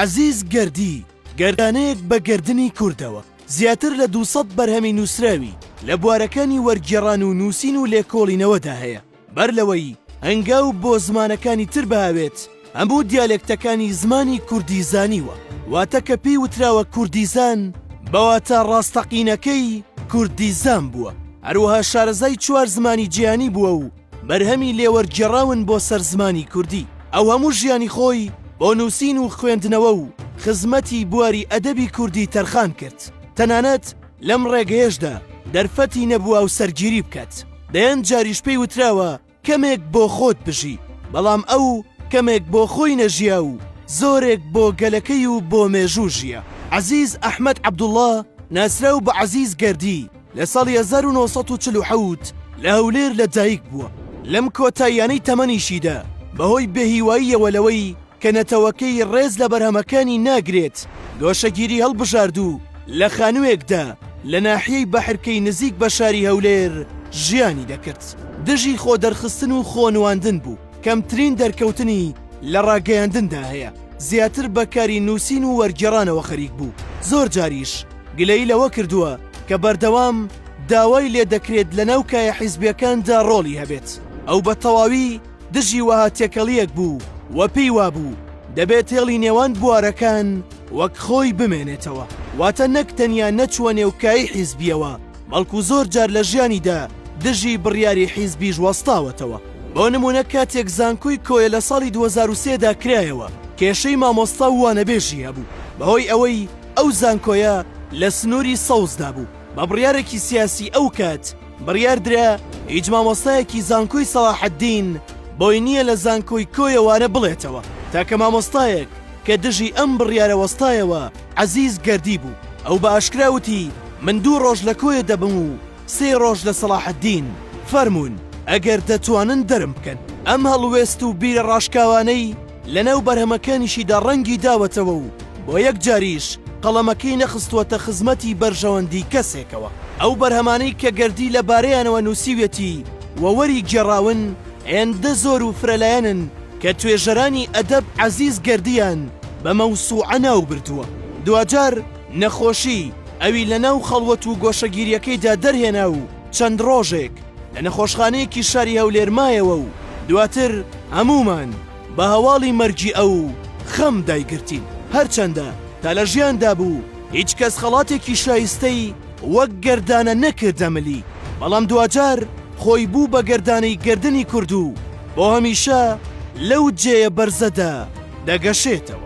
عەزیز گەردی، گەردانەیەک بە گەردنی کوردەوە، زیاتر لە دوو سەد بەرهەمی نووسراوی لە بوارەکانی وەرگێڕان و نووسین و لێکۆڵینەوەدا هەیە، بەر لەوەی هەنگاو بۆ زمانەکانی تر بهاوێت، هەموو دیالێکتەکانی زمانی کوردی زانیوە، واتە کە پێی وتراوە کوردیزان، بە واتا ڕاستەقینەکەی کوردیزان بووە، هەروەها شارەزای چوار زمانی جیهانی بووە و بەرهەمی لێوەرگێڕاون بۆ سەر زمانی کوردی، ئەو هەموو ژیانی خۆی بۆ نووسین و خوێندنەوە و خزمەتی بواری ئەدەبی کوردی تەرخان کرد، تەنانەت لەم ڕێگەیەشدا دەرفەتی نەبوو هاوسەرگیری بکات، دەیان جاریش پێی وتراوە کەمێک بۆ خۆت بژی، بەڵام ئەو کەمێک بۆ خۆی نەژیا و زۆرێک بۆ گەلەکەی و بۆ مێژوو ژیا. عەزیز ئەحمەد عەبدوڵڵا ناسراو بە عەزیز گەردی، لە ساڵی هەزار و نۆ سەد و چل و حەوت لە هەولێر لە دایک بووە، لەم کۆتاییانەی تەمەنیشیدا بەهۆی بێهیواییەوە لەوەی کە نەتەوەکەی ڕێز لە بەرهەمەکانی ناگرێت گۆشەگیری هەڵبژارد و لە خانووێکدا لە ناحیەی بەحرکەی نزیک بە شاری هەولێر ژیانی دەکرد دژی خۆدەرخستن و خۆنواندن بوو. کەمترین دەرکەوتنی لە ڕاگەیاندندا هەیە، زیاتر بە کاری نووسین و وەرگێڕانەوە خەریک بوو، زۆر جاریش گلەیی لەوە کردووە کە بەردەوام داوای لێ دەکرێت لەناو کایە حیزبییەکاندا ڕۆڵی هەبێت، ئەو بە تەواوی دژی وەها تێکەڵییەک بوو و پێی وابوو دەبێت هێڵی نێوان بوارەکان وەک خۆی بمێنێتەوە، واتە نەک تەنیا نەچووە نێو کایەی حیزبییەوە، بەڵکو زۆر جار لە ژیانیدا دژی بڕیاری حیزبیش وەستاوەتەوە، بۆ نموونە کاتێک زانکۆی کۆیە لە ساڵی دوو هەزار و سێ دا کرایەوە کێشەی مامۆستا و وانەبێژی هەبوو بەهۆی ئەوەی ئەو زانکۆیە لە سنووری سەوزدا بوو بە بڕیارێکی سیاسی ئەوکات بڕیار درا هیچ مامۆستایەکی زانکۆی سەڵاحەدین بۆی نییە لە زانکۆی کۆیە وانە بڵێتەوە تاکە مامۆستایەک کە دژی ئەم بڕیارە وەستایەوە عەزیز گەردی بوو، ئەو بە ئاشکرا وتی، من دوو ڕۆژ لە کۆیە دەبم و سێ ڕۆژ لە سەڵاحەدین، فەرموون ئەگەر دەتوانن دەرم بکەن. ئەم هەڵوێست و بیرە ڕاشکاوانەی لەناو بەرهەمەکانیشیدا ڕەنگی داوەتەوە و بۆ یەکجاریش قەڵەمەکەی نەخستووەتە خزمەتی بەرژەوەندی کەسێکەوە. ئەو بەرهەمانەی کە گەردی لەبارەیانەوە نووسیویەتی و وەریگێڕاون، هێندە زۆر و فرەلایەنن، کە توێژەرانی ئەدەب عەزیز گەردیان بە مەوسوعە ناو بردووە، دواجار نەخۆشی ئەوی لە ناو خەڵوەت و گۆشەگیرییەکەیدا دەرهێنا و چەند ڕۆژێک لە نەخۆشخانەیەکی شاری هەولێر مایەوە و دواتر هەموومان بە هەواڵی مەرگی ئەو خەم دایگرتین. هەرچەندە تا لە ژیاندا بوو هیچ کەس خەڵاتێکی شایستەی وەک گەردانە نەکردە ملی، بەڵام دواجار، خۆی بوو بە گەردانەی گەردنی کورد و بۆ هەمیشە لەو جێیە بەرزەدا دەگەشێتەوە.